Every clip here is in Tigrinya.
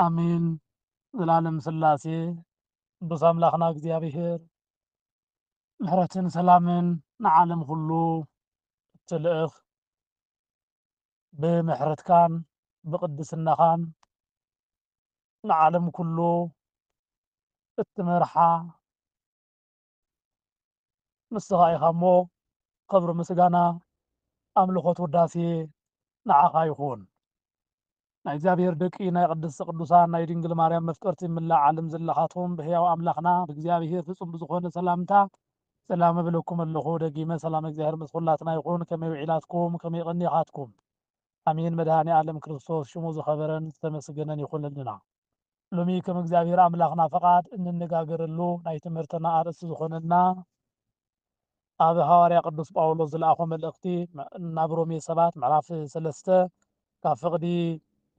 ኣሜን ዘላለም ስላሴ ቅዱስ ኣምላክና እግዚኣብሔር ምሕረትን ሰላምን ንዓለም ኩሉ እትልእኽ ብምሕረትካን ብቅድስናኻን ንዓለም ኩሉ እትመርሓ ንስኻ ኢኻ እሞ ኽብሪ ምስጋና ኣምልኾት ውዳሴ ንዓኻ ይኹን ናይ እግዚኣብሔር ደቂ ናይ ቅድስቲ ቅዱሳን ናይ ድንግል ማርያም መፍቀርቲ ምላእ ዓለም ዘለኻቶም ብሕያው ኣምላኽና ብእግዚኣብሔር ፍጹም ብዝኾነ ሰላምታ ሰላም እብለኩም ኣለኹ ደጊመ ሰላም እግዚኣብሔር ምስ ኹላትና ይኹን ከመይ ውዒላትኩም ከመይ ቐኒኻትኩም ኣሜን መድኃኔ ዓለም ክርስቶስ ሽሙ ዝኸበረን ዝተመስገነን ይኹንልና ሎሚ ከም እግዚኣብሔር ኣምላኽና ፈቓድ እንነጋገረሉ ናይ ትምህርትና ኣርእስቲ ዝኾነና ኣብ ሃዋርያ ቅዱስ ጳውሎስ ዝለኣኾ መልእኽቲ ናብ ሮሜ ሰባት ምዕራፍ ሰለስተ ካብ ፍቕዲ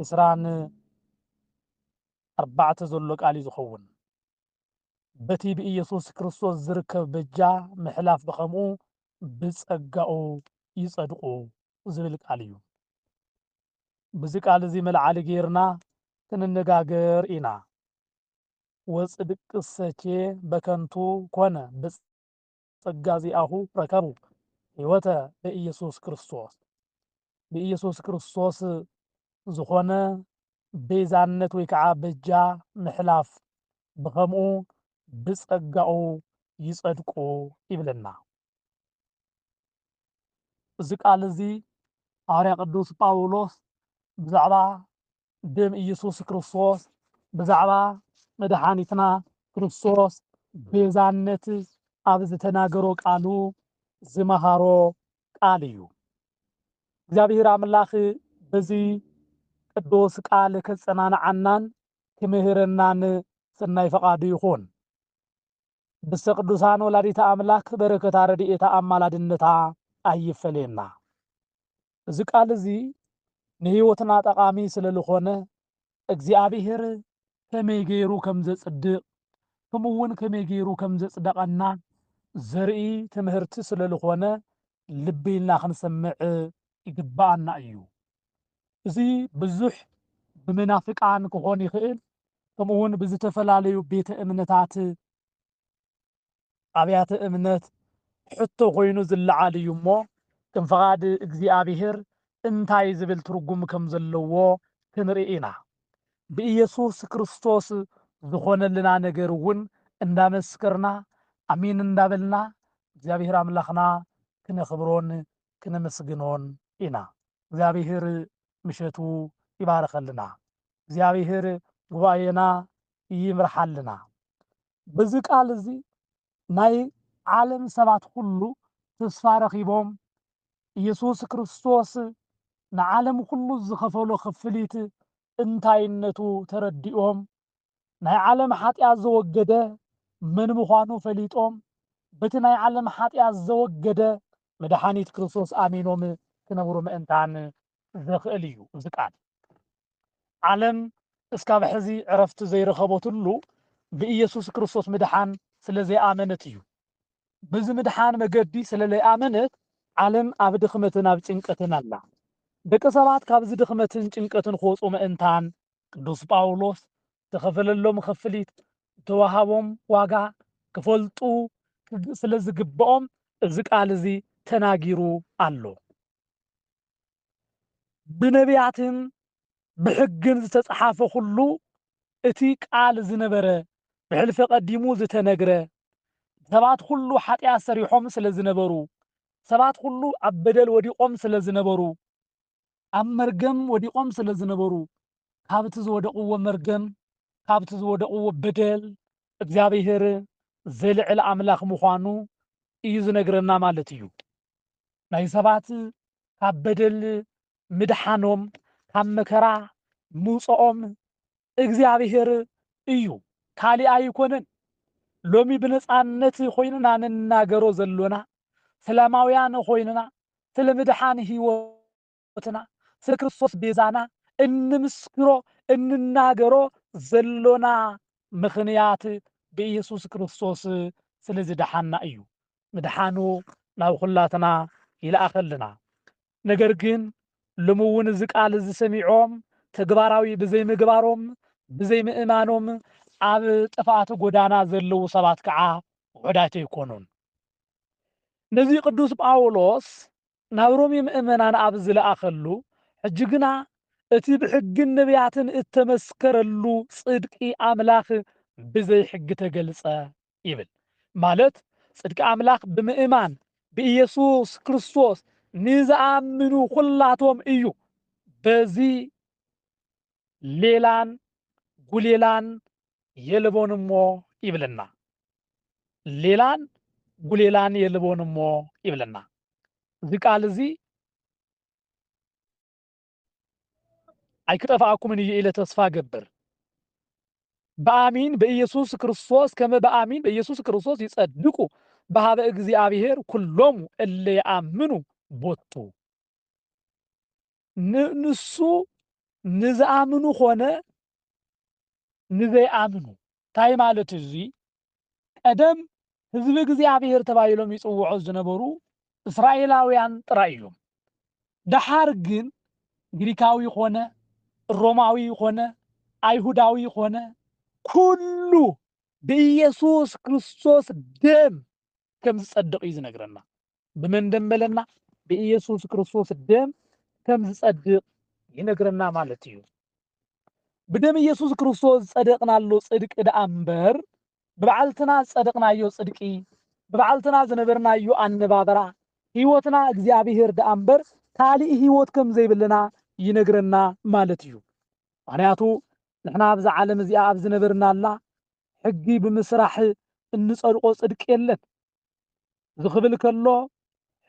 ዕስራን ኣርባዕተ ዘሎ ቃል እዩ ዝኸውን በቲ ብኢየሱስ ክርስቶስ ዝርከብ በጃ ምሕላፍ ብኸምኡ ብጸጋኡ ይጸድቁ ዝብል ቃል እዩ ብዚ ቃል እዚ መልዓሊ ገይርና ክንነጋገር ኢና። ወጽድቅሰኬ በከንቱ ኮነ ብጸጋ ዚኣሁ ረከቡ ሕይወተ በኢየሱስ ክርስቶስ ብኢየሱስ ክርስቶስ ዝኾነ ቤዛነት ወይ ከዓ በጃ ምሕላፍ ብኸምኡ ብጸጋኡ ይጸድቁ ይብለና። እዚ ቃል እዚ ሃዋርያ ቅዱስ ጳውሎስ ብዛዕባ ደም ኢየሱስ ክርስቶስ ብዛዕባ መድሓኒትና ክርስቶስ ቤዛነት ኣብ ዝተናገሮ ቃሉ ዝመሃሮ ቃል እዩ። እግዚኣብሔር ኣምላኽ በዚ ቅዱስ ቃል ከጸናንዓናን ክምህረናን ሰናይ ፈቃዱ ይኹን። ቅድስተ ቅዱሳን ወላዲተ ኣምላክ በረከታ ረድኤታ ኣማላድነታ ኣይፈለየና። እዚ ቃል እዚ ንህይወትና ጠቓሚ ስለልኾነ እግዚኣብሔር ከመይ ገይሩ ከም ዘጽድቕ ከምኡውን ከመይ ገይሩ ከም ዘጽደቐና ዘርኢ ትምህርቲ ስለልኾነ ልቢ ኢልና ክንሰምዕ ይግብኣና እዩ። እዚ ብዙሕ ብመናፍቃን ክኾን ይኽእል ከምኡ እውን ብዝተፈላለዩ ቤተ እምነታት ኣብያተ እምነት ሕቶ ኮይኑ ዝለዓል እዩ እሞ ከም ፍቓድ እግዚኣብሔር እንታይ ዝብል ትርጉም ከም ዘለዎ ክንርኢ ኢና። ብኢየሱስ ክርስቶስ ዝኾነልና ነገር እውን እንዳመስከርና ኣሜን እንዳበልና እግዚኣብሔር ኣምላኽና ክነኽብሮን ክነመስግኖን ኢና እግዚኣብሔር ምሸቱ ይባርኸልና እግዚኣብሔር ጉባኤና ይምርሓልና በዚ ቃል እዚ ናይ ዓለም ሰባት ኩሉ ተስፋ ረኺቦም ኢየሱስ ክርስቶስ ንዓለም ኩሉ ዝኸፈሎ ክፍሊት እንታይነቱ ተረዲኦም ናይ ዓለም ሓጢኣት ዘወገደ መን ምዃኑ ፈሊጦም በቲ ናይ ዓለም ሓጢኣት ዘወገደ መድሓኒት ክርስቶስ ኣሚኖም ክነብሩ ምእንታን ዘኽእል እዩ እዚ ቃል። ዓለም እስካብ ሕዚ ዕረፍቲ ዘይረኸበትሉ ብኢየሱስ ክርስቶስ ምድሓን ስለ ዘይኣመነት እዩ። በዚ ምድሓን መገዲ ስለ ለይኣመነት ዓለም ኣብ ድኽመትን ኣብ ጭንቀትን ኣላ። ደቂ ሰባት ካብዚ ድኽመትን ጭንቀትን ክወጹ ምእንታን ቅዱስ ጳውሎስ ዝተኸፈለሎም ኽፍሊት ዝተዋሃቦም ዋጋ ክፈልጡ ስለ ዝግብኦም እዚ ቃል እዚ ተናጊሩ ኣሎ። ብነቢያትን ብሕግን ዝተጽሓፈ ዅሉ እቲ ቃል ዝነበረ ብሕልፊ ቀዲሙ ዝተነግረ ሰባት ዅሉ ሓጢኣት ሰሪሖም ስለ ዝነበሩ ሰባት ዅሉ ኣብ በደል ወዲቖም ስለ ዝነበሩ ኣብ መርገም ወዲቆም ስለ ዝነበሩ ካብቲ ዝወደቅዎ መርገም ካብቲ ዝወደቅዎ በደል እግዚኣብሄር ዘልዕል ኣምላኽ ምዃኑ እዩ ዝነግረና ማለት እዩ። ናይ ሰባት ካብ በደል ምድሓኖም ካብ መከራ ምውፀኦም እግዚኣብሔር እዩ ካሊእ ኣይኮነን ሎሚ ብነፃነት ኾይንና ንናገሮ ዘሎና ሰላማውያን ኾይንና ስለ ምድሓን ህይወትና ስለ ክርስቶስ ቤዛና እንምስክሮ እንናገሮ ዘሎና ምኽንያት ብኢየሱስ ክርስቶስ ስለ ዝደሓና እዩ ምድሓኑ ናብ ኹላትና ይልኣኸልና ነገር ግን ሎሚ እውን እዚ ቃል እዚ ሰሚዖም ተግባራዊ ብዘይምግባሮም ብዘይምእማኖም ኣብ ጥፍኣት ጎዳና ዘለዉ ሰባት ከዓ ውሑዳት ኣይኮኑን። ነዚ ቅዱስ ጳውሎስ ናብ ሮሜ ምእመናን ኣብ ዝለኣኸሉ ሕጂ ግና እቲ ብሕግን ነቢያትን እተመስከረሉ ጽድቂ ኣምላኽ ብዘይ ሕጊ ተገልጸ ይብል። ማለት ጽድቂ ኣምላኽ ብምእማን ብኢየሱስ ክርስቶስ ንዝኣምኑ ኹላቶም እዩ። በዚ ሌላን ጉሌላን የልቦን እሞ ይብለና። ሌላን ጉሌላን የልቦን እሞ ይብለና። እዚ ቃል እዚ ኣይክጠፋኣኩምን እዩ ኢለ ተስፋ ገብር ብኣሚን በኢየሱስ ክርስቶስ ከመ ብኣሚን በኢየሱስ ክርስቶስ ይጸድቁ በሃበ እግዚኣብሔር ኩሎሙ እለ የኣምኑ ቦቱ ንሱ ንዝኣምኑ ኮነ ንዘይኣምኑ እንታይ ማለት እዚ ቀደም ህዝቢ እግዚኣብሄር ተባሂሎም ይጽውዑ ዝነበሩ እስራኤላውያን ጥራይ እዮም። ደሓር ግን ግሪካዊ ዀነ፣ ሮማዊ ዀነ፣ ኣይሁዳዊ ዀነ፣ ኵሉ ብኢየሱስ ክርስቶስ ደም ከም ዝጸድቕ እዩ ዝነግረና። ብመንደምበለና ብኢየሱስ ክርስቶስ ደም ከም ዝጸድቕ ይነግረና ማለት እዩ። ብደም ኢየሱስ ክርስቶስ ዝጸደቕናሉ ጽድቂ ደኣ እምበር ብበዓልትና ዝጸደቕናዮ ጽድቂ ብበዓልትና ዝነበርናዮ ኣነባበራ ህይወትና እግዚኣብሔር ደኣ እምበር ካልእ ህይወት ከም ዘይብልና ይነግረና ማለት እዩ ምክንያቱ ንሕና ኣብዛ ዓለም እዚኣ ኣብ ዝነበርናላ ሕጊ ብምስራሕ እንጸድቆ ጽድቂ የለን እዚ ክብል ከሎ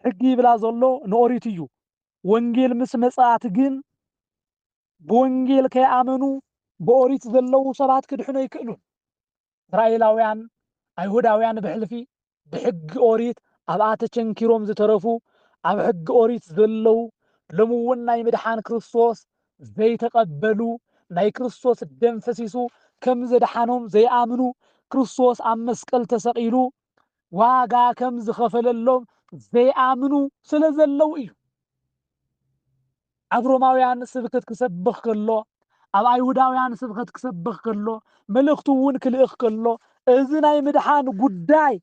ሕጊ ይብላ ዘሎ ንኦሪት እዩ። ወንጌል ምስ መጽኣት ግን ብወንጌል ከይኣመኑ ብኦሪት ዘለዉ ሰባት ክድሕኑ ኣይክእሉን። እስራኤላውያን ኣይሁዳውያን ብሕልፊ ብሕጊ ኦሪት ኣብኣ ተቸንኪሮም ዝተረፉ ኣብ ሕጊ ኦሪት ዘለዉ ሎሚ እውን ናይ ምድሓን ክርስቶስ ዘይተቐበሉ፣ ናይ ክርስቶስ ደም ፈሲሱ ከም ዘድሓኖም ዘይኣምኑ፣ ክርስቶስ ኣብ መስቀል ተሰቒሉ ዋጋ ከም ዝኸፈለሎም ዘይኣምኑ ስለ ዘለዉ እዩ። ኣብ ሮማውያን ስብከት ክሰብኽ ከሎ፣ ኣብ ኣይሁዳውያን ስብከት ክሰብኽ ከሎ፣ መልእኽቱ እውን ክልእኽ ከሎ እዚ ናይ ምድሓን ጉዳይ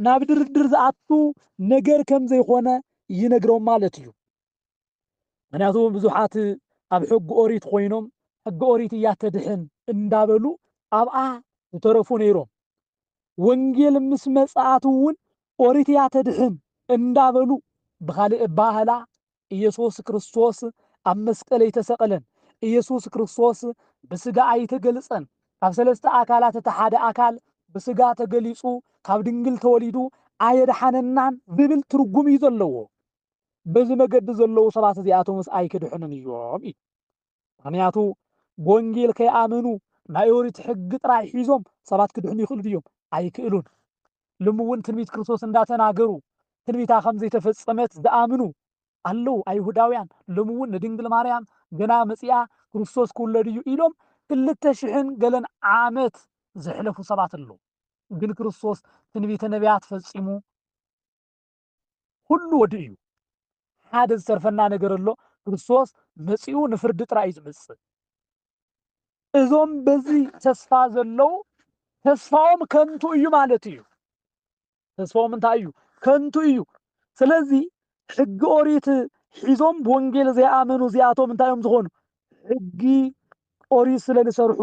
ናብ ድርድር ዝኣቱ ነገር ከም ዘይኮነ ይነግሮም ማለት እዩ። ምኽንያቱ ብዙሓት ኣብ ሕጊ ኦሪት ኾይኖም ሕጊ ኦሪት እያ ተድሕን እንዳበሉ ኣብኣ ዝተረፉ ነይሮም። ወንጌል ምስ መጽኣት እውን ኦሪት እያ ተድሕን እንዳበሉ ብኻልእ ኣባህላ ኢየሱስ ክርስቶስ ኣብ መስቀል ኣይተሰቕለን፣ ኢየሱስ ክርስቶስ ብስጋ ኣይተገልጸን፣ ካብ ሰለስተ ኣካላት እቲ ሓደ ኣካል ብስጋ ተገሊጹ ካብ ድንግል ተወሊዱ ኣየድሓነናን ዝብል ትርጉም እዩ ዘለዎ። በዚ መገዲ ዘለዉ ሰባት እዚኣቶምስ ኣይክድሕኑን እዮም እዩ። ምኽንያቱ ብወንጌል ከይኣመኑ ናይ ኦሪት ሕጊ ጥራይ ሒዞም ሰባት ክድሕኑ ይኽእሉ ድዮም? ኣይክእሉን። ልሚ እውን ትንቢት ክርስቶስ እንዳተናገሩ ትንቢታ ከም ዘይተፈጸመት ዝኣምኑ ኣለዉ። ኣይሁዳውያን ሎሚ እውን ንድንግል ማርያም ገና መጺኣ ክርስቶስ ክውለድ እዩ ኢሎም ክልተ ሽሕን ገለን ዓመት ዘሕለፉ ሰባት ኣለዉ። ግን ክርስቶስ ትንቢተ ነቢያት ፈጺሙ ኹሉ ወዲኡ እዩ። ሓደ ዝተርፈና ነገር ኣሎ፣ ክርስቶስ መጺኡ ንፍርዲ ጥራይ እዩ ዝመጽእ። እዞም በዚ ተስፋ ዘለዉ ተስፋኦም ከንቱ እዩ ማለት እዩ። ተስፋኦም እንታይ እዩ? ከንቱ እዩ። ስለዚ ሕጊ ኦሪት ሒዞም ብወንጌል ዘይኣመኑ እዚኣቶም እንታይ እዮም ዝኾኑ? ሕጊ ኦሪት ስለ ዝሰርሑ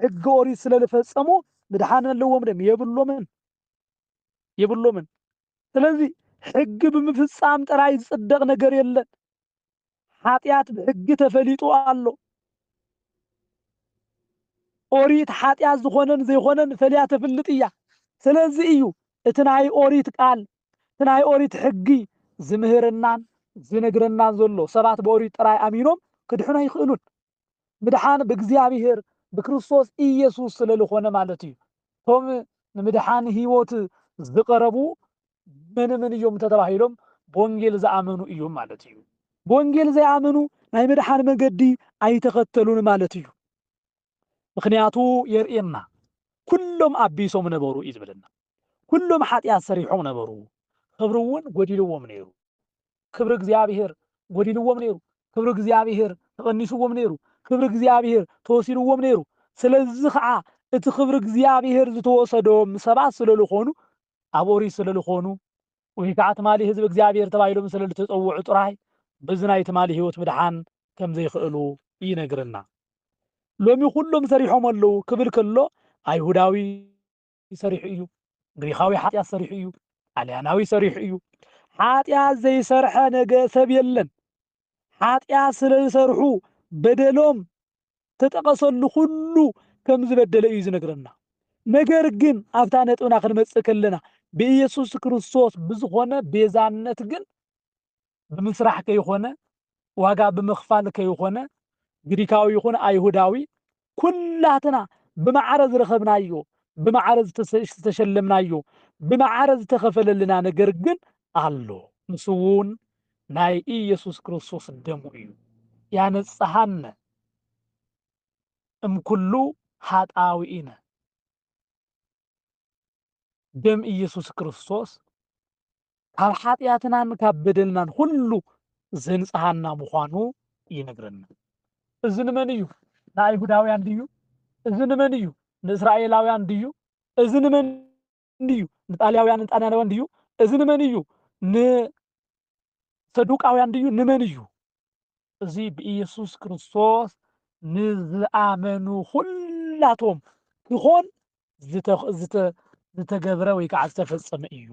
ሕጊ ኦሪት ስለ ዝፈጸሙ ምድሓን ኣለዎም ድም የብሎምን የብሎምን። ስለዚ ሕጊ ብምፍጻም ጥራይ ዝጽደቕ ነገር የለን። ሓጢኣት ብሕጊ ተፈሊጡ ኣሎ። ኦሪት ሓጢኣት ዝኾነን ዘይኾነን ፈልያ ተፍልጥ እያ። ስለዚ እዩ እቲ ናይ ኦሪት ቃል እቲ ናይ ኦሪት ሕጊ ዝምህረናን ዝነግረናን ዘሎ። ሰባት ብኦሪት ጥራይ ኣሚኖም ክድሕኑ ኣይኽእሉን። ምድሓን ብእግዚኣብሄር ብክርስቶስ ኢየሱስ ስለልኾነ ማለት እዩ። እቶም ንምድሓን ሕይወት ዝቐረቡ መንምን እዮም እንተተባሂሎም ብወንጌል ዝኣመኑ እዮም ማለት እዩ። ብወንጌል ዘይኣመኑ ናይ ምድሓን መገዲ ኣይተኸተሉን ማለት እዩ። ምክንያቱ የርእየና ኩሎም ኣቢሶም ነበሩ እዩ ዝብለና። ኩሎም ሓጢኣት ሰሪሖም ነበሩ፣ ኽብሪ እውን ጎዲልዎም ነይሩ። ክብሪ እግዚኣብሄር ጎዲልዎም ነይሩ፣ ክብሪ እግዚኣብሄር ተቐኒስዎም ነይሩ፣ ክብሪ እግዚኣብሄር ተወሲድዎም ነይሩ። ስለዚ ኸዓ እቲ ክብሪ እግዚኣብሄር ዝተወሰዶም ሰባት ስለ ልኾኑ፣ ኣብ ኦሪት ስለ ልኾኑ፣ ወይ ከዓ ትማሊ ህዝቢ እግዚኣብሄር ተባሂሎም ስለ ልተፀውዑ ጥራይ በዚ ናይ ትማሊ ህይወት ምድሓን ከም ዘይኸእሉ ይነግረና። ሎሚ ኩሎም ሰሪሖም ኣለዉ ክብል ከሎ ኣይሁዳዊ፣ ሰሪሑ እዩ፣ ግሪኻዊ ሓጢኣት ሰሪሑ እዩ፣ ጣልያናዊ ሰሪሑ እዩ፣ ሓጢኣት ዘይሰርሐ ነገ ሰብ የለን። ሓጢኣት ስለ ዝሰርሑ በደሎም ተጠቐሰሉ ኩሉ ከም ዝበደለ እዩ ዝነግረና። ነገር ግን ኣብታ ነጥብና ክንመጽእ ከለና ብኢየሱስ ክርስቶስ ብዝኾነ ቤዛነት ግን ብምስራሕ ከይኾነ ዋጋ ብምኽፋል ከይኾነ ግሪካዊ ይኹን ኣይሁዳዊ ኩላትና ብማዕረ ዝረኸብናዮ ብማዕረ ዝተሸለምናዮ ብማዕረ ዝተኸፈለልና ነገር ግን ኣሎ ንሱ እውን ናይ ኢየሱስ ክርስቶስ ደሙ እዩ ያነጽሃነ እምኩሉ ሃጣዊኢነ ደም ኢየሱስ ክርስቶስ ካብ ሓጢኣትናን ካብ በደልናን ኩሉ ዘንጽሃና ምዃኑ ይነግረና። እዚ ንመን እዩ? ንኣይሁዳውያን ድዩ? እዚ ንመን እዩ? ንእስራኤላውያን ድዩ? እዚ ንመን እዩ? ንጣልያውያንን ጣልያናውያን ድዩ? እዚ ንመን እዩ? ሰዱቃውያን ድዩ ንመን እዩ? እዚ ብኢየሱስ ክርስቶስ ንዝኣመኑ ዅላቶም ኪዀን ዝተገብረ ወይ ከዓ ዝተፈጸመ እዩ።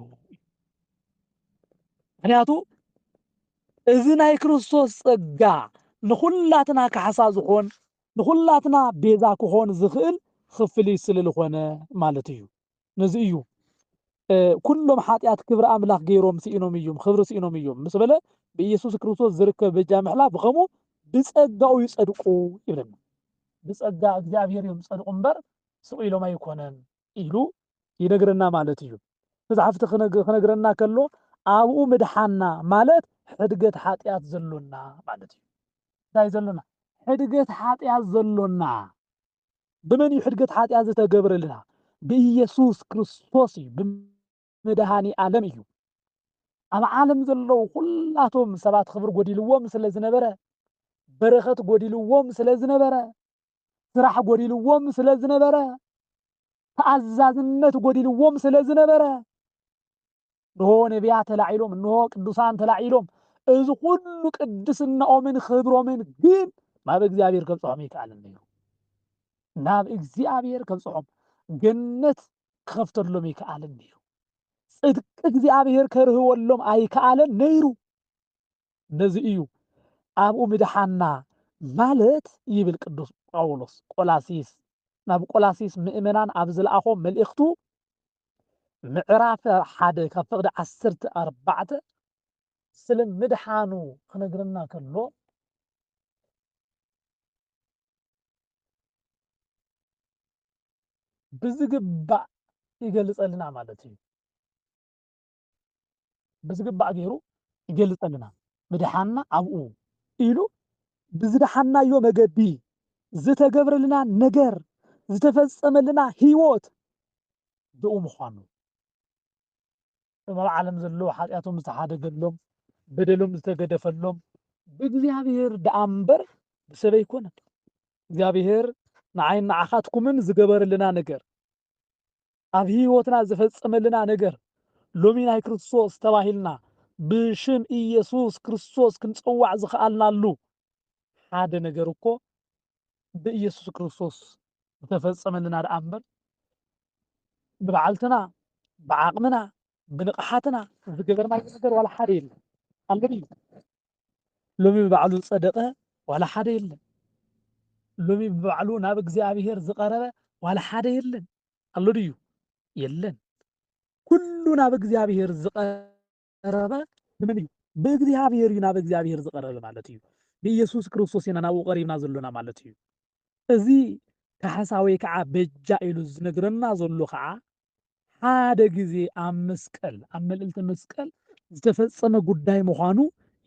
ምኽንያቱ እዚ ናይ ክርስቶስ ጸጋ ንዅላትና ካሕሳ ዝዀን ንዅላትና ቤዛ ክዀን ዝኽእል ኽፍሊት ስለ ዝኾነ ማለት እዩ። ነዚ እዩ ኩሎም ሓጢኣት ክብሪ ኣምላኽ ገይሮም ስኢኖም እዩም ክብሪ ስኢኖም እዩም ምስ በለ ብኢየሱስ ክርስቶስ ዝርከብ በጃ ምሕላ ብኸምኡ ብጸጋኡ ይጸድቁ ይብለና ብጸጋ እግዚኣብሔር እዮም ጸድቁ እምበር ስቕ ኢሎም ኣይኮነን ኢሉ ይነግረና ማለት እዩ መጽሓፍቲ ክነግረና ከሎ ኣብኡ ምድሓና ማለት ሕድገት ሓጢኣት ዘሎና ማለት እዩ እንታይ ዘሎና ሕድገት ሓጢኣት ዘሎና ብመን እዩ ሕድገት ሓጢኣት ዝተገብረልና? ብኢየሱስ ክርስቶስ እዩ፣ ብመድኃኒ ዓለም እዩ። ኣብ ዓለም ዘለዉ ዅላቶም ሰባት ኽብሪ ጐዲልዎም ስለ ዝነበረ፣ በረኸት ጐዲልዎም ስለ ዝነበረ፣ ስራሕ ጐዲልዎም ስለ ዝነበረ፣ ተኣዛዝነት ጐዲልዎም ስለ ዝነበረ፣ እንሆ ነቢያት ተላዒሎም፣ እንሆ ቅዱሳን ተላዒሎም፣ እዚ ኩሉ ቅድስናኦምን ኽብሮምን ግን ናብ እግዚኣብሔር ከብፅሖም ኣይከኣልን ነይሩ። ናብ እግዚኣብሔር ከብፅሖም ገነት ክኸፍተሎም ኣይከኣልን ነይሩ። ጽድቂ እግዚኣብሔር ከርህወሎም ኣይከኣለን ነይሩ። ነዚ እዩ ኣብኡ ምድሓና ማለት ይብል ቅዱስ ጳውሎስ ቆላሲስ ናብ ቆላሲስ ምእመናን ኣብ ዝለኣኾ መልእኽቱ ምዕራፍ ሓደ ካብ ፍቕዲ ዓሰርተ ኣርባዕተ ስለ ምድሓኑ ክነግረና ከሎ ብዝግባእ ይገልጸልና ማለት እዩ። ብዝግባእ ገይሩ ይገልፀልና። ምድሓንና ኣብኡ ኢሉ ብዝደሓንናዮ መገዲ ዝተገብረልና ነገር፣ ዝተፈፀመልና ህይወት ብኡ ምዃኑ፣ እቶም ኣብ ዓለም ዘለዉ ሓጢኣቶም ዝተሓደገሎም፣ በደሎም ዝተገደፈሎም ብእግዚኣብሔር ደኣ እምበር ብሰብ ኣይኮነን። እግዚኣብሔር ንዓይን ንዓኻትኩምን ዝገበረልና ነገር፣ ኣብ ሕይወትና ዝፈጸመልና ነገር ሎሚ ናይ ክርስቶስ ተባሂልና ብሽም ኢየሱስ ክርስቶስ ክንጸዋዕ ዝኸኣልናሉ ሓደ ነገር እኮ ብኢየሱስ ክርስቶስ ዝተፈጸመልና ደኣ እምበር ብበዓልትና ብዓቕምና ብንቕሓትና ዝገበርናዮ ነገር ዋላ ሓደ የለን። ኣሎድዩ? ሎሚ ብባዕሉ ዝጸደቐ ዋላ ሓደ የለን። ሎሚ ብባዕሉ ናብ እግዚኣብሔር ዝቐረበ ዋላ ሓደ የለን። ኣሎ ድዩ? የለን። ኩሉ ናብ እግዚኣብሔር ዝቐረበ ብመን እዩ? ብእግዚኣብሔር እዩ ናብ እግዚኣብሔር ዝቐረበ ማለት እዩ። ብኢየሱስ ክርስቶስ ኢና ናብኡ ቀሪብና ዘሎና ማለት እዩ። እዚ ካሕሳ ወይ ከዓ በጃ ኢሉ ዝነግረና ዘሎ ከዓ ሓደ ግዜ ኣብ መስቀል ኣብ መልእልተ መስቀል ዝተፈጸመ ጉዳይ ምዃኑ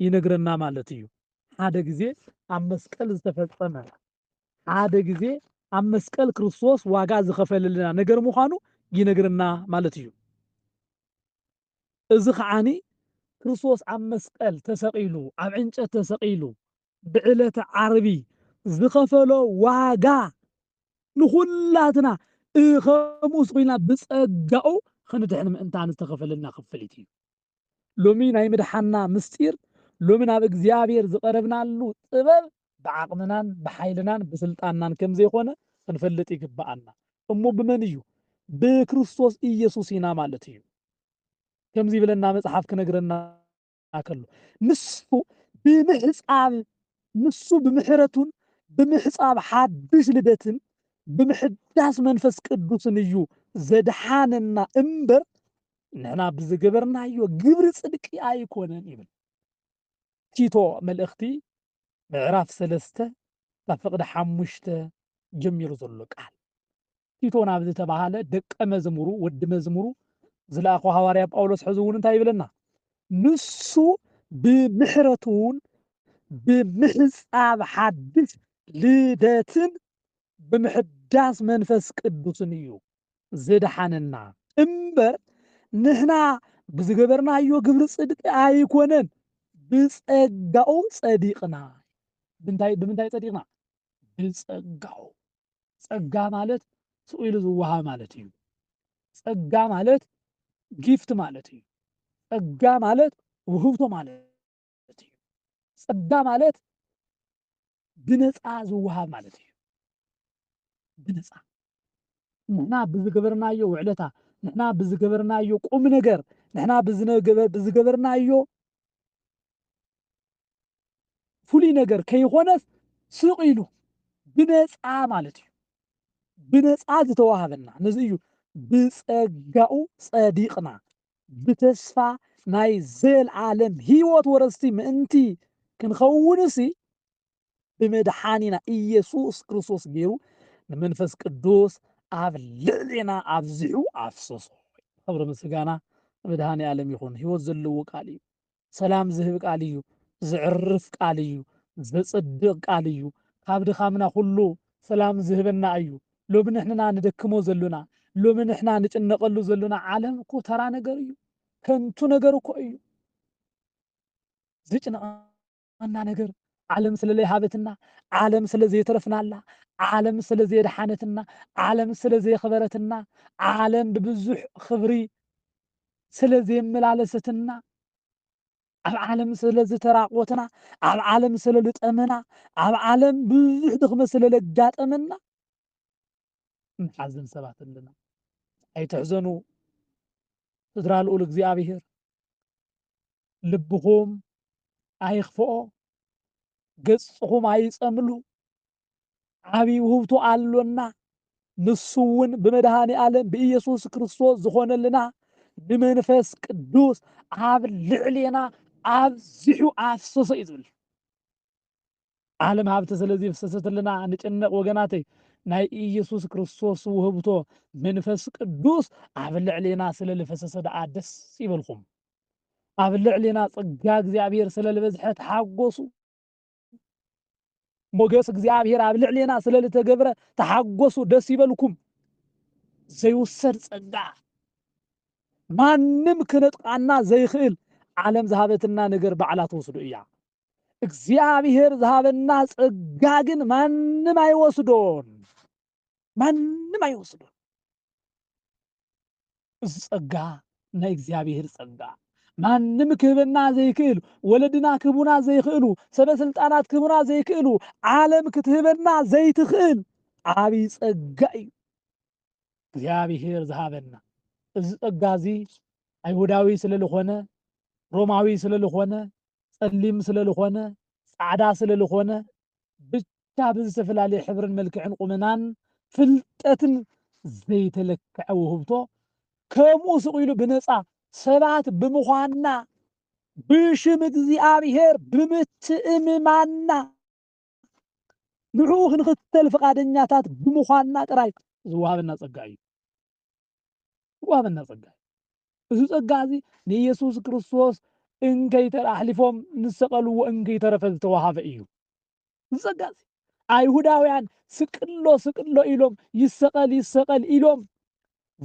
ይነግረና ማለት እዩ። ሓደ ግዜ ኣብ መስቀል ዝተፈጸመ ሓደ ግዜ ኣብ መስቀል ክርስቶስ ዋጋ ዝኸፈለልና ነገር ምዃኑ ይነግረና ማለት እዩ። እዚ ኸዓኒ ክርስቶስ ኣብ መስቀል ተሰቒሉ፣ ኣብ ዕንጨት ተሰቒሉ ብዕለተ ዓርቢ ዝኸፈሎ ዋጋ ንኹላትና እህ ከምኡስ ኹይልና ብጸጋኡ ኽንድሕን ምእንታን ዝተኸፈለልና ክፍሊት እዩ። ሎሚ ናይ ምድሓንና ምስጢር፣ ሎሚ ናብ እግዚኣብሔር ዝቐረብናሉ ጥበብ ብዓቕምናን ብሓይልናን ብስልጣንናን ከም ዘይኮነ ክንፈልጥ ይግብኣና። እሞ ብመን እዩ? ብክርስቶስ ኢየሱስ ኢና ማለት እዩ። ከምዚ ይብለና መጽሓፍ ክነግረና ከሎ ንሱ ብምሕጻብ ንሱ ብምሕረቱን ብምሕጻብ ሓድሽ ልደትን ብምሕዳስ መንፈስ ቅዱስን እዩ ዘድሓነና እምበር ንሕና ብዝገበርናዮ ግብሪ ጽድቂ ኣይኮነን ይብል። ቲቶ መልእኽቲ ምዕራፍ ሰለስተ ካብ ፍቕዲ ሓሙሽተ ጀሚሩ ዘሎ ቃል ቲቶ ናብ ዝተባህለ ደቀ መዝሙሩ ወዲ መዝሙሩ ዝለኣኾ ሃዋርያ ጳውሎስ ሕዚ እውን እንታይ ይብለና? ንሱ ብምሕረቱን ብምሕጻብ ሓድሽ ልደትን ብምሕዳስ መንፈስ ቅዱስን እዩ ዘድሓነና እምበር ንሕና ብዝገበርናዮ ግብሪ ጽድቂ ኣይኮነን፣ ብጸጋኡ ጸዲቕና። ብምንታይ ብምንታይ ጸዲቕና? ብጸጋኡ። ጸጋ ማለት ስቕ ኢሉ ዝወሃብ ማለት እዩ። ጸጋ ማለት ጊፍት ማለት እዩ። ጸጋ ማለት ውህብቶ ማለት ማለት እዩ። ጸጋ ማለት ብነጻ ዝወሃብ ማለት እዩ። ብነጻ ንሕና ብዝገበርናዮ ውዕለታ፣ ንሕና ብዝገበርናዮ ቁም ነገር፣ ንሕና ብዝነገበ- ብዝገበርናዮ ፍሉይ ነገር ከይኾነስ ስቕ ኢሉ ብነጻ ማለት እዩ። ብነጻ ዝተዋሃበና ነዚ እዩ ብጸጋኡ ጸዲቕና ብተስፋ ናይ ዘለዓለም ህይወት ወረስቲ ምእንቲ ክንኸውንሲ፣ ብመድሓኒና ኢየሱስ ክርስቶስ ገይሩ ንመንፈስ ቅዱስ ኣብ ልዕሌና ኣብዚሑ ኣፍሰሶ። ኽብሪ ምስጋና ንመድሃኒኣለም ይኹን። ህይወት ዘለዎ ቃል እዩ። ሰላም ዝህብ ቃል እዩ፣ ዘዕርፍ ቃል እዩ፣ ዘጽድቅ ቃል እዩ፣ ካብ ድኻምና ኩሉ ሰላም ዝህበና እዩ፣ ሎሚ ንሕንና ንደክሞ ዘሉና፣ ሎሚ ንሕና ንጭነቀሉ ዘሉና ዓለም እኮ ተራ ነገር እዩ፣ ከንቱ ነገር እኮ እዩ፣ ዝጭንቀና ዋና ነገር ዓለም ስለ ለይሃበትና፣ ዓለም ስለ ዘየትረፍናላ፣ ዓለም ስለ ዘየድሓነትና፣ ዓለም ስለ ዘየኽበረትና፣ ዓለም ብብዙሕ ኽብሪ ስለ ዘየመላለሰትና፣ ኣብ ዓለም ስለ ዝተራቆትና፣ ኣብ ዓለም ስለ ልጠመና፣ ኣብ ዓለም ብዙሕ ድኽመት ስለ ለጋጠመና ንሓዝን ሰባት ኣለና። ኣይትሕዘኑ ስድራ ልኡል እግዚኣብሄር፣ ልብኹም ኣይኽፍኦ፣ ገጽኹም ኣይጸምሉ፣ ዓቢ ውህብቶ ኣሎና፣ ንሱ እውን ብመድኃኔ ዓለም ብኢየሱስ ክርስቶስ ዝኾነልና ንመንፈስ ቅዱስ ኣብ ልዕሌና ኣብዚሑ ኣፍሰሶ እዩ ዝብል። ዓለም ሃብቲ ስለ ዜፍስስትልና ንጭነቕ ወገናተይ፣ ናይ ኢየሱስ ክርስቶስ ውህብቶ መንፈስ ቅዱስ ኣብ ልዕሌና ስለ ልፈሰሰ ደኣ ደስ ይበልኩም። ኣብ ልዕሌና ጸጋ እግዚኣብሔር ስለ ልበዝሐ ተሓጎሱ። ሞገስ እግዚኣብሔር ኣብ ልዕሌና ስለ ልተገብረ ተሓጎሱ፣ ደስ ይበልኩም። ዘይውሰድ ጸጋ ማንም ክነጥቃና ዘይክእል ዓለም ዝሃበትና ነገር ባዕላ ትወስዱ እያ። እግዚኣብሔር ዝሃበና ጸጋ ግን ማንም ኣይወስዶን፣ ማንም ኣይወስዶን። እዚ ጸጋ ናይ እግዚኣብሔር ጸጋ ማንም ክህበና ዘይክእል፣ ወለድና ክህቡና ዘይክእሉ፣ ሰበ ስልጣናት ክህቡና ዘይክእሉ፣ ዓለም ክትህበና ዘይትኽእል ዓብይ ጸጋ እዩ። እግዚኣብሄር ዝሃበና እዚ ጸጋ እዚ ኣይሁዳዊ ስለ ዝኾነ ሮማዊ ስለ ዝኾነ ጸሊም ስለ ዝኾነ ጻዕዳ ስለ ዝኾነ ብቻ ብዝተፈላለየ ሕብርን መልክዕን ቁመናን ፍልጠትን ዘይተለክዐ ውህብቶ ከምኡ ስቕ ኢሉ ብነፃ ሰባት ብምዃንና ብሽም እግዚኣብሄር ብምትእምማንና ንዕኡ ክንኽተል ፍቓደኛታት ብምዃንና ጥራይ ዝወሃበና ጸጋ እዩ። ዝወሃበና ጸጋ እዩ። እዚ ጸጋ እዚ ንኢየሱስ ክርስቶስ እንከይተረ ኣሕሊፎም ንሰቀልዎ እንከይተረፈ ዝተወሃበ እዩ። እዚ ጸጋ እዚ ኣይሁዳውያን ስቅሎ ስቅሎ ኢሎም ይሰቀል ይሰቀል ኢሎም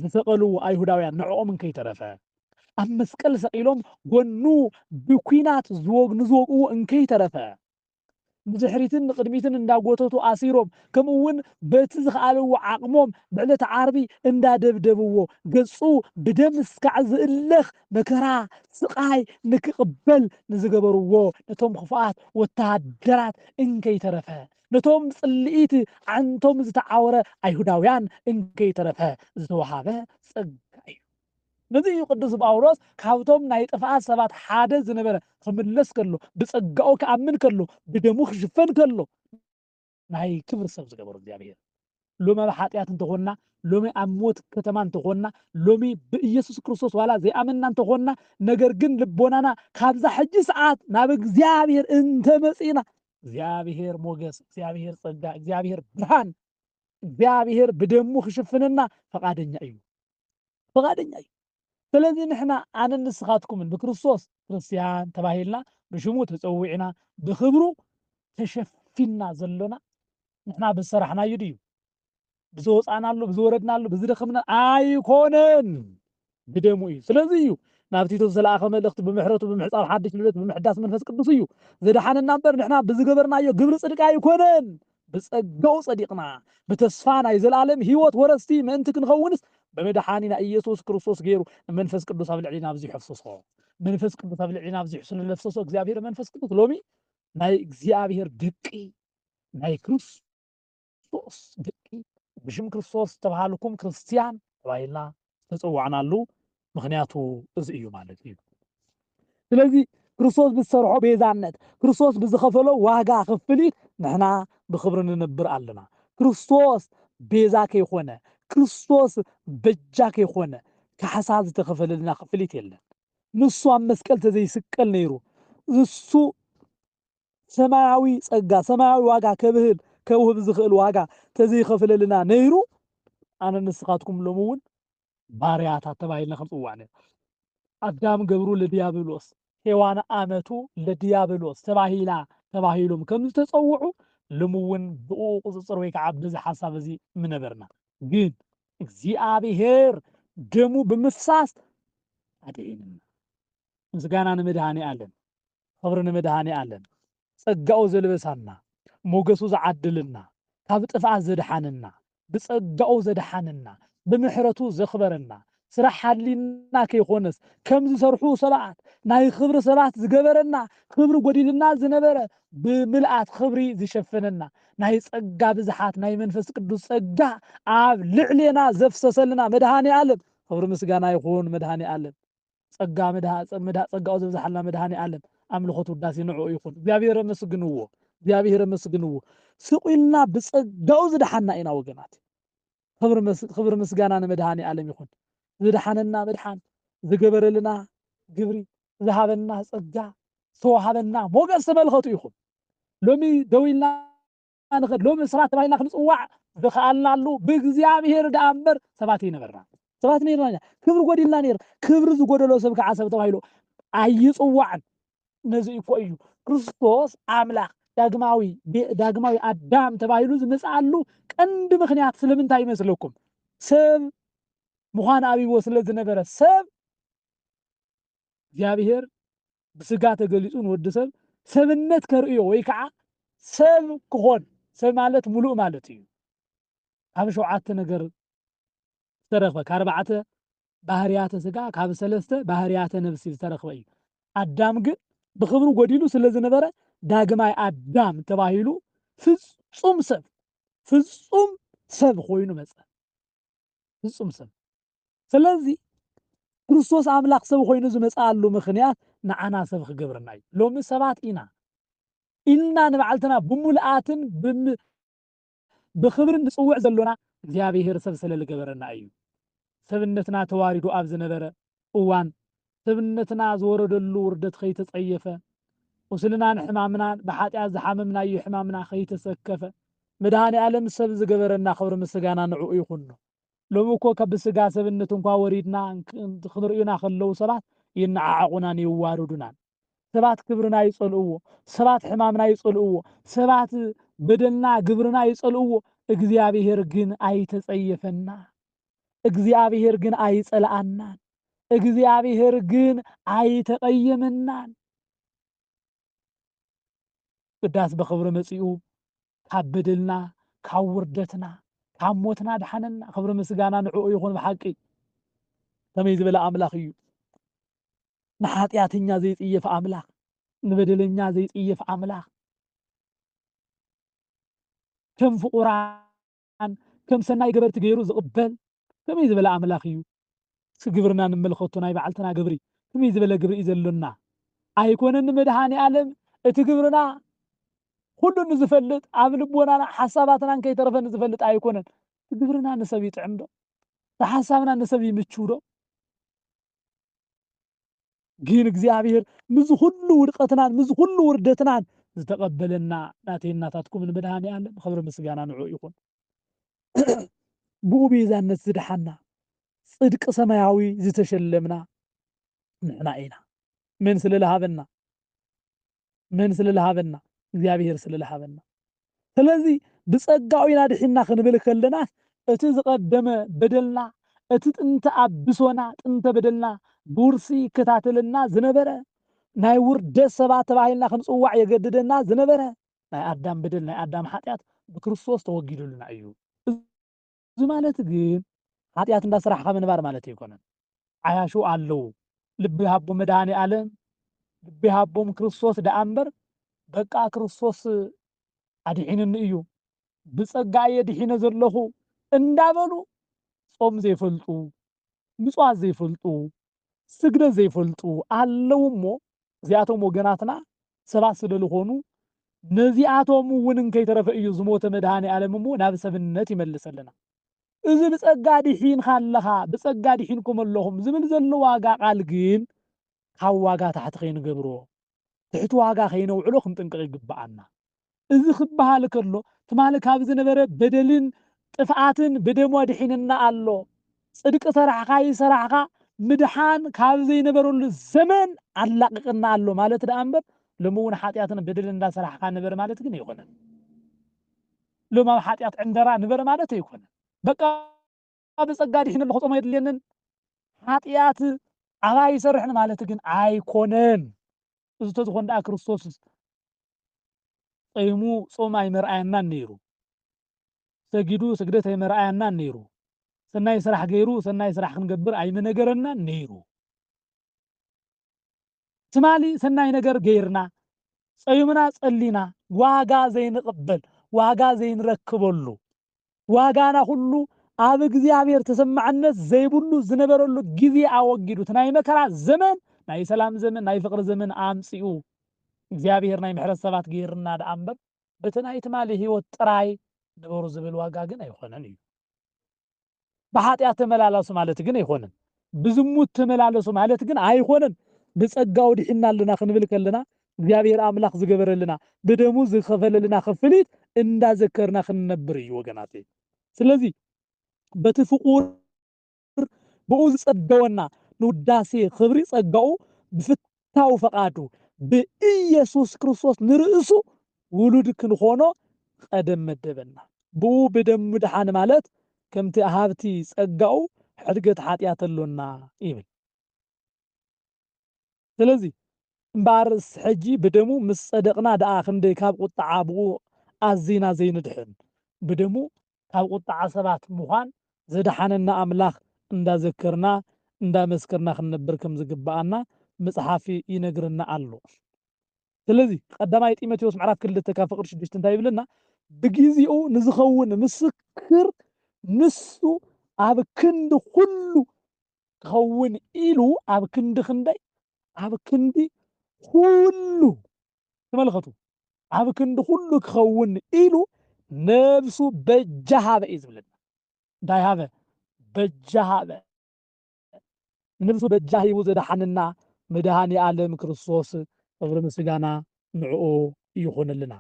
ዝሰቀልዎ ኣይሁዳውያን ንዕኦም እንከይተረፈ ኣብ መስቀል ሰቂሎም ጎኑ ብኲናት ዝወግ ንዝወግእዎ እንከይተረፈ ንድሕሪትን ንቕድሚትን እንዳጎተቱ ኣሲሮም ከምኡ ውን በቲ ዝኸኣልዎ ዓቕሞም ብዕለተ ዓርቢ እንዳደብደብዎ ገጹ ብደም እስካዕ ዝእለኽ መከራ ስቓይ ንክቕበል ንዝገበርዎ ነቶም ክፉኣት ወተሃደራት እንከይተረፈ ነቶም ብጽልኢት ኣዕንቶም ዝተዓወረ ኣይሁዳውያን እንከይተረፈ ዝተወሃበ ጸጋ እዩ። ነዚ እዩ ቅዱስ ጳውሎስ ካብቶም ናይ ጥፍኣት ሰባት ሓደ ዝነበረ ክምለስ ከሎ ብጸጋኡ ክኣምን ከሎ ብደሙ ክሽፈን ከሎ ናይ ክብሪ ሰብ ዝገበሮ እግዚኣብሔር። ሎሚ ኣብ ሓጢኣት እንተኾንና ሎሚ ኣብ ሞት ከተማ እንተኾንና ሎሚ ብኢየሱስ ክርስቶስ ዋላ ዘይኣመንና እንተኾንና ነገር ግን ልቦናና ካብዛ ሕጂ ሰዓት ናብ እግዚኣብሔር እንተመጺእና እግዚኣብሔር ሞገስ፣ እግዚኣብሔር ጸጋ፣ እግዚኣብሔር ብርሃን፣ እግዚኣብሔር ብደሙ ክሽፍነና ፈቃደኛ እዩ። ፍቓደኛ እዩ። ስለዚ ንሕና ኣነን ንስኻትኩምን ብክርስቶስ ክርስትያን ተባሂልና፣ ብሽሙ ተጸዊዕና፣ ብኽብሩ ተሸፊንና ዘሎና ንሕና ብዝሰራሕናዩ ድዩ? ብዝወጻእናሉ፣ ብዝወረድናሉ፣ ብዝደኸምና ኣይኮነን፣ ብደሙ እዩ። ስለዚ እዩ ናብ ቲቶ ዝተላእከ መልእኽቲ ብምሕረቱ ብምሕጻብ ሓድሽ ልደት ብምሕዳስ መንፈስ ቅዱስ እዩ ዘድሓነና እምበር ንሕና ብዝገበርናዮ ግብሪ ጽድቂ ኣይኮነን። ብጸጋኡ ጸዲቕና ብተስፋ ናይ ዘለኣለም ህይወት ወረስቲ ምእንቲ ክንኸውንስ ብመድሓኒና ኢየሱስ ክርስቶስ ገይሩ ንመንፈስ ቅዱስ ኣብ ልዕሊና ኣብዚሑ ኣፍሰሶ። መንፈስ ቅዱስ ኣብ ልዕሊና ኣብዚሑ ስለ ዘፍሰሶ እግዚኣብሔር መንፈስ ቅዱስ ሎሚ ናይ እግዚኣብሔር ደቂ ናይ ክርስቶስ ክርስቶስ ደቂ ብሽም ክርስቶስ ዝተባሃልኩም ክርስትያን ተባሂልና ዝተጸዋዕናሉ ምኽንያቱ እዚ እዩ ማለት እዩ። ስለዚ ክርስቶስ ብዝሰርሖ ቤዛነት፣ ክርስቶስ ብዝኸፈሎ ዋጋ ክፍሊት ንሕና ብኽብሪ ንነብር ኣለና። ክርስቶስ ቤዛ ከይኮነ፣ ክርስቶስ በጃ ከይኮነ ካሕሳ ዝተኸፈለልና ክፍሊት የለን። ንሱ ኣብ መስቀል ተዘይስቀል ነይሩ ንሱ ሰማያዊ ጸጋ ሰማያዊ ዋጋ ከብህል ከውህብ ዝኽእል ዋጋ ተዘይኸፍለልና ነይሩ ኣነ ንስኻትኩም ሎሚ እውን ባርያታት ተባሂልና ክንጽዋዕ ነይሩ ኣዳም ገብሩ ለዲያብሎስ ሔዋን ኣመቱ ለዲያብሎስ ተባሂላ ተባሂሎም ከም ዝተጸውዑ ሎሚ እውን ብኡ ቁጽጽር ወይ ከዓ በዚ ሓሳብ እዚ ምነበርና ግን እግዚኣብሔር ደሙ ብምፍሳስ ኣድዒንና ምስጋና ንመድሃኔ ኣለም ኽብሪ ንመድሃኒኣለም ጸጋኡ ዘልበሳና ሞገሱ ዝዓድልና ካብ ጥፍኣት ዘድሓነና ብጸጋኡ ዘድሓነና ብምሕረቱ ዘኽበረና ስራሕ ሃሊና ከይኮነስ ከም ዝሰርሑ ሰባት ናይ ኽብሪ ሰባት ዝገበረና ኽብሪ ጎዲሉና ዝነበረ ብምልኣት ኽብሪ ዝሸፈነና ናይ ጸጋ ብዝሓት ናይ መንፈስ ቅዱስ ጸጋ ኣብ ልዕሌና ዘፍሰሰልና መድሃኒኣለም ኽብሪ ምስጋና ይኹን መድሃኒኣለም ጸጋ መድሃ መድሃ ጸጋኡ ዘብዝሓልና መድሃኔኣለም ኣምልኾት ውዳሴ ንዕኡ ይኹን እግዚኣብሔር ኣመስግንዎ እግዚኣብሔር ኣመስግንዎ ስቕ ኢልና ብጸጋኡ ዝደሓና ኢና ወገናት ክብሪ መስ- ክብሪ ምስጋና ንመድሃኔኣለም ይኹን ዝደሓነና መድሓን ዝገበረልና ግብሪ ዝሃበና ጸጋ ዝተዋሃበና ሞገስ ተመልኸቱ ኢኹም ሎሚ ደው ኢልና ንኸድ ሎሚ ሰባት ተባሂልና ክንጽዋዕ ዝኸኣልናሉ ብእግዚኣብሔር ደኣ እምበር ሰባት ኣይነበርና ሰባት ነርና ኢና ክብሪ ጎዲልና ነይር ክብሪ ዝጎደሎ ሰብ ከዓ ሰብ ተባሂሉ ኣይጽዋዕን ነዚ እኮ እዩ ክርስቶስ ኣምላኽ ዳግማዊ ዳግማዊ ኣዳም ተባሂሉ ዝመጽኣሉ ቀንዲ ምክንያት ስለምንታይ ይመስለኩም? ሰብ ምዃን ኣብዎ ስለ ዝነበረ ሰብ እግዚኣብሔር ብስጋ ተገሊጹ ንወዲ ሰብ ሰብነት ከርእዮ ወይ ከኣ ሰብ ክኾን ሰብ ማለት ምሉእ ማለት እዩ ካብ ሸውዓተ ነገር ዝተረኽበ ካርባዕተ ባህርያተ ስጋ ካብ ሰለስተ ባህርያተ ነብሲ ዝተረኽበ እዩ ኣዳም ግን ብኽብሩ ጎዲሉ ስለ ዝነበረ ዳግማይ ኣዳም ተባሂሉ ፍጹም ሰብ ፍጹም ሰብ ኮይኑ መጸ ፍጹም ሰብ። ስለዚ ክርስቶስ ኣምላኽ ሰብ ኮይኑ ዝመጽኣሉ ምኽንያት ንዓና ሰብ ክገብረና እዩ። ሎሚ ሰባት ኢና ኢልና ንባዕልትና ብምሉኣትን ብኽብርን ንጽውዕ ዘሎና እግዚኣብሄር ሰብ ስለ ልገበረና እዩ። ሰብነትና ተዋሪዱ ኣብ ዝነበረ እዋን፣ ሰብነትና ዝወረደሉ ውርደት ኸይተጸየፈ፣ ቁስልናን ሕማምናን፣ ብሓጢኣት ዝሓመምናዮ ሕማምና ኸይተሰከፈ፣ መድሃኔኣለም ሰብ ዝገበረና ኽብሪ ምስጋና ንዕኡ ይኹኖ። ሎሚ እኮ ካብ ብስጋ ሰብነት እንኳ ወሪድና ኽርኡና ኸለዉ ሰባት ይነዓዓቑናን የዋርዱናን። ሰባት ክብርና ይጸልእዎ፣ ሰባት ሕማምና ይጸልእዎ፣ ሰባት በደልና ግብርና ይጸልእዎ፣ እግዚኣብሄር ግን ኣይተጸየፈና። እግዚኣብሄር ግን ኣይጸልኣናን። እግዚኣብሄር ግን ኣይተቐይምናን። ብዳስ ብኽብሪ መጺኡ ካብ በደልና ካብ ውርደትና ካብ ሞትና ኣድሓነና። ክብሪ ምስጋና ንዕኡ ይኹን። ብሓቂ ከመይ ዝበለ ኣምላኽ እዩ! ንሓጢኣተኛ ዘይጽየፍ ኣምላኽ፣ ንበደለኛ ዘይጽየፍ ኣምላኽ፣ ከም ፍቑራት ንዓን ከም ሰናይ ገበርቲ ገይሩ ዝቕበል ከመይ ዝበለ ኣምላኽ እዩ? እስኪ ግብርና ንመልከቶ ናይ ባዕልትና ግብሪ ከመይ ዝበለ ግብሪ እዩ ዘሎና? ኣይኮነን ንመድሃኒኣለም እቲ ግብርና ኩሉ ንዝፈልጥ ኣብ ልቦናና ሓሳባትናን ከይተረፈ ንዝፈልጥ ኣይኮነን እቲ ግብርና ንሰብ ይጥዕምዶ? እቲ ሓሳብና ንሰብ ይምችውዶ? ግን እግዚኣብሔር ምዝ ኹሉ ውድቀትናን ምዝ ኹሉ ውርደትናን ዝተቀበለና ናተይን ናታትኩምን መድኃኔዓለም ኽብር ምስጋና ንዑ ይኹን ብኡ ቤዛነት ዝደሓና ጽድቂ ሰማያዊ ዝተሸለምና ንሕና ኢና መን ስለ ለሃበና መን ስለ ልሃበና? እግዚኣብሄር ስለ ልሃበና። ስለዚ ብጸጋኡ ኢና ድሒንና ክንብል ከለናስ እቲ ዝቐደመ በደልና፣ እቲ ጥንተ ኣብሶና፣ ጥንተ በደልና ብውርሲ ይከታተለና ዝነበረ፣ ናይ ውርደት ሰባት ተባሂልና ክንጽዋዕ የገድደና ዝነበረ ናይ ኣዳም በደል፣ ናይ ኣዳም ሓጢኣት ብክርስቶስ ተወጊዱልና እዩ። እዚ ማለት ግን ሓጥያት እንዳ ሰራሕኻ ምንባር ማለት ኣይኮነን። ዓያሹ ኣለዉ ልቢ ይሃቦም መድሃኒኣለም ልቢ ይሃቦም ክርስቶስ ደኣ እምበር በቃ ክርስቶስ ኣድሒኑኒ እዩ ብጸጋ እየ ድሒነ ዘለኹ እንዳበሉ ጾም ዘይፈልጡ ንጹሃት ዘይፈልጡ ስግደት ዘይፈልጡ ኣለዉ እሞ እዚኣቶም ወገናትና ሰባት ስለልኾኑ ነዚኣቶም እውን እንከይተረፈ እዩ ዝሞተ መድኃኔዓለም እሞ ናብ ሰብነት ይመልሰልና እዚ ብጸጋ ድሒንካ ኣለኻ ብጸጋ ድሒንኩም ኣለኹም ዝብል ዘሎ ዋጋ ቃል ግን ካብ ዋጋ ታሕቲ ከይንገብሮ ትሕቲ ዋጋ ከይነውዕሎ ክንጥንቅቕ ይግብኣና። እዚ ክበሃል ከሎ ትማሊ ካብ ዝነበረ በደልን ጥፍኣትን ብደሙ ኣድሒንና ኣሎ። ጽድቂ ሰራሕካ ኣይሰራሕካ ምድሓን ካብ ዘይነበረሉ ዘመን ኣላቒቕና ኣሎ ማለት ደኣ እምበር ሎሚ እውን ሓጢኣትን በደልን እንዳሰራሕካ ንበር ማለት ግን ኣይኮነን። ሎሚ ኣብ ሓጢኣት ዕንደራ ንበር ማለት ኣይኮነን። በቃ ብጸጋ ዲሒነ ኣሎ ክጾሞ የድልየንን ሓጢኣት ኣብ ኣይሰርሕን ማለት ግን ኣይኮነን እዚ ተዝኾን ደኣ ክርስቶስ ጸይሙ ጾም ኣይመርኣየናን ነይሩ ሰጊዱ ስግደት ኣይመርኣየናን ነይሩ ሰናይ ስራሕ ገይሩ ሰናይ ስራሕ ክንገብር ኣይመነገረናን ነይሩ ትማሊ ሰናይ ነገር ገይርና ጸዩምና ጸሊና ዋጋ ዘይንቕበል ዋጋ ዘይንረክበሉ ዋጋና ኩሉ ኣብ እግዚኣብሔር ተሰማዕነት ዘይብሉ ዝነበረሉ ግዜ ኣወጊዱ እቲ ናይ መከራ ዘመን ናይ ሰላም ዘመን ናይ ፍቕሪ ዘመን ኣምጺኡ እግዚኣብሔር ናይ ምሕረት ሰባት ገይርና ደኣ እምበር በቲ ናይ ትማሊ ህይወት ጥራይ ንበሩ ዝብል ዋጋ ግን ኣይኾነን እዩ። ብኃጢኣት ተመላላሱ ማለት ግን ኣይኮነን። ብዝሙት ተመላለሱ ማለት ግን ኣይኮነን። ብጸጋኡ ድሒንና ኣለና ክንብል ከለና እግዚኣብሔር ኣምላኽ ዝገበረልና ብደሙ ዝኸፈለልና ክፍሊት እንዳዘከርና ክንነብር እዩ ወገናተይ። ስለዚ በቲ ፍቁር ብኡ ዝጸገወና ንውዳሴ ክብሪ ጸጋኡ ብፍት መንግስታዊ ፈቃዱ ብኢየሱስ ክርስቶስ ንርእሱ ውሉድ ክንኾኖ ቐደም መደበና። ብኡ ብደሙ ምድሓን ማለት ከምቲ ሃብቲ ጸጋኡ ሕድገት ሓጢኣት ኣሎና ይብል። ስለዚ እምበኣርስ ሕጂ ብደሙ ምስ ጸደቅና ደኣ ክንደይ ካብ ቁጥዓ ብኡ ኣዚና ዘይንድሕን። ብደሙ ካብ ቁጥዓ ሰባት ምዃን ዘድሓነና ኣምላኽ እንዳዘከርና እንዳመስከርና ክንነብር ከም ዝግብኣና ምጽሓፍ ይነግረና ኣሎ ስለዚ ቀዳማይ ጢሞቴዎስ ምዕራፍ ክልተ ካብ ፍቅሪ ሽዱሽተ እንታይ ይብለና ብጊዜኡ ንዝኸውን ምስክር ንሱ ኣብ ክንዲ ኩሉ ክኸውን ኢሉ ኣብ ክንዲ ክንደይ ኣብ ክንዲ ኩሉ ተመልከቱ ኣብ ክንዲ ኩሉ ክኸውን ኢሉ ነብሱ በጃ ሃበ እዩ ዝብለና እንታይ ሃበ በጃ ሃበ ንብሱ በጃ ሂቡ ዘድሓነና መድሃኒኣለም ክርስቶስ ክብሪ ምስጋና ንዕኡ ይኹንልና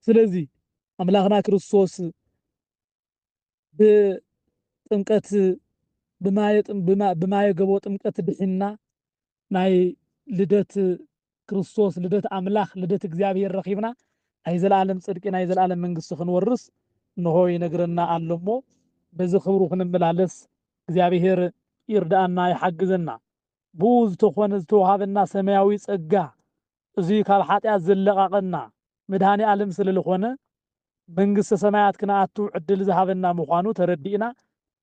ስለዚ ኣምላኽና ክርስቶስ ብጥምቀት ብማየ ገቦ ጥምቀት ድሒንና ናይ ልደት ክርስቶስ ልደት ኣምላኽ ልደት እግዚኣብሔር ረኺብና ናይ ዘለዓለም ጽድቂ ናይ ዘለዓለም መንግስቲ ክንወርስ እንሆ ይነግረና ኣሎ እሞ በዚ ክብሩ ክንመላለስ እግዚኣብሔር ይርዳኣና ይሓግዘና ብኡ ዝተኾነ ዝተውሃበና ሰማያዊ ጸጋ እዙይ ካብ ሓጢኣት ዝለቓቐና መድኃኔዓለም ስለልኾነ መንግሥተ ሰማያት ክንኣቱ ዕድል ዝሃበና ምዃኑ ተረዲእና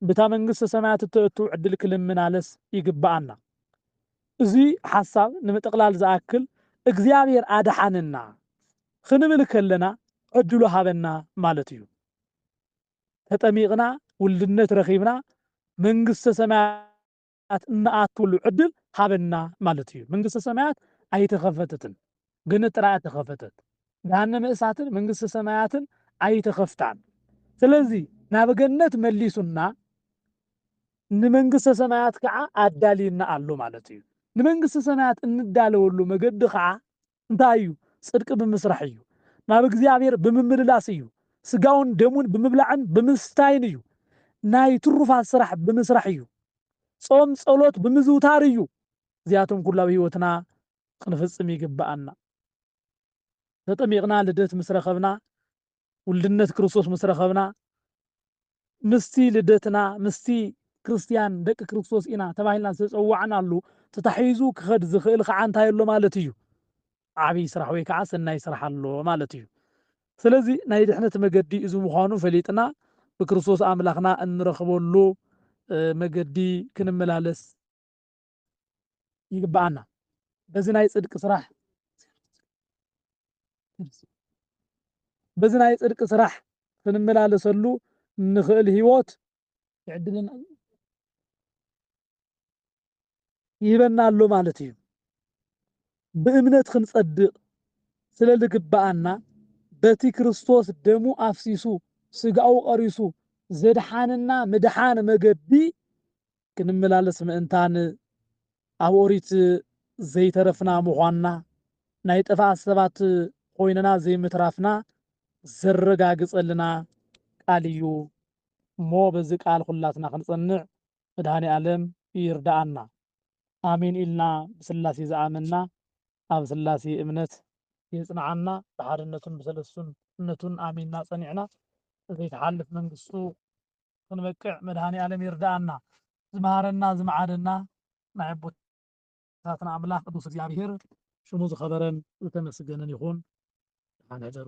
ብታ መንግሥተ ሰማያት እተእቱ ዕድል ክልምናለስ ይግበኣና። እዙይ ሓሳብ ንምጥቕላል ዝኣክል እግዚኣብሔር ኣድኃነና ኽንብል ከለና ዕድሉ ሃበና ማለት እዩ። ተጠሚቕና ውልድነት ረኺብና መንግሥተ ሰማያት ሰማያት እንኣትወሉ ዕድል ሃበና ማለት እዩ። መንግስተ ሰማያት ኣይተኸፈተትን ገነት ጥራይ እያ እተኸፈተት። ገሃነመ እሳትን መንግስተ ሰማያትን ኣይተኸፍታን። ስለዚ ናብ ገነት መሊሱና ንመንግስተ ሰማያት ከዓ ኣዳልዩና ኣሎ ማለት እዩ። ንመንግስተ ሰማያት እንዳለወሉ መገዲ ከዓ እንታይ እዩ? ጽድቂ ብምስራሕ እዩ። ናብ እግዚኣብሔር ብምምልላስ እዩ። ሥጋውን ደሙን ብምብላዕን ብምስታይን እዩ። ናይ ትሩፋት ሥራሕ ብምስራሕ እዩ። ጾም ጸሎት ብምዝውታር እዩ። እዚኣቶም ኩሉ ኣብ ሕይወትና ኽንፍጽም ይግበኣና። ተጠሚቕና ልደት ምስ ረኸብና ውልድነት ክርስቶስ ምስ ረኸብና ምስቲ ልደትና ምስቲ ክርስትያን ደቂ ክርስቶስ ኢና ተባሂልና ዝተጸዋዕናሉ ተታሒዙ ክኸድ ዝኽእል ከዓ እንታይ ኣሎ ማለት እዩ? ዓብይ ስራሕ ወይ ከዓ ሰናይ ስራሕ ኣሎ ማለት እዩ። ስለዚ ናይ ድሕነት መገዲ እዚ ምዃኑ ፈሊጥና ብክርስቶስ ኣምላኽና እንረኽበሉ መገዲ ክንመላለስ ይግብኣና በዚ ናይ ጽድቂ ስራሕ በዚ ናይ ጽድቂ ስራሕ ክንመላለሰሉ እንኽእል ህይወት ይዕድልና ይህበና ኣሎ ማለት እዩ። ብእምነት ክንጸድቕ ስለ ዝግብኣና በቲ ክርስቶስ ደሙ ኣፍሲሱ ስጋኡ ቐሪሱ ዘድሓንና ምድሓን መገዲ ክንመላለስ ምእንታን ኣብ ኦሪት ዘይተረፍና ምዃንና ናይ ጥፍኣት ሰባት ኾይንና ዘይምትራፍና ዘረጋግፀልና ቃል እዩ እሞ በዚ ቃል ኹላትና ክንፀንዕ መድኃኔኣለም ይርድኣና ኣሜን ኢልና ብስላሴ ዝኣመንና ኣብ ስላሴ እምነት የፅንዓና ብሓድነቱን ብሰለስቱነቱን ኣሚንና ፀኒዕና ዘይትሓልፍ መንግስቱ ክንበቅዕ መድሃኒኣለም ይርዳኣና ዝመሃረና ዝመዓደና ናይ ኣቦታትና ኣምላክ ቅዱስ እግዚኣብሔር ሽሙ ዝከበረን ዝተመስገነን ይኩን ደሓን ሕደሩ።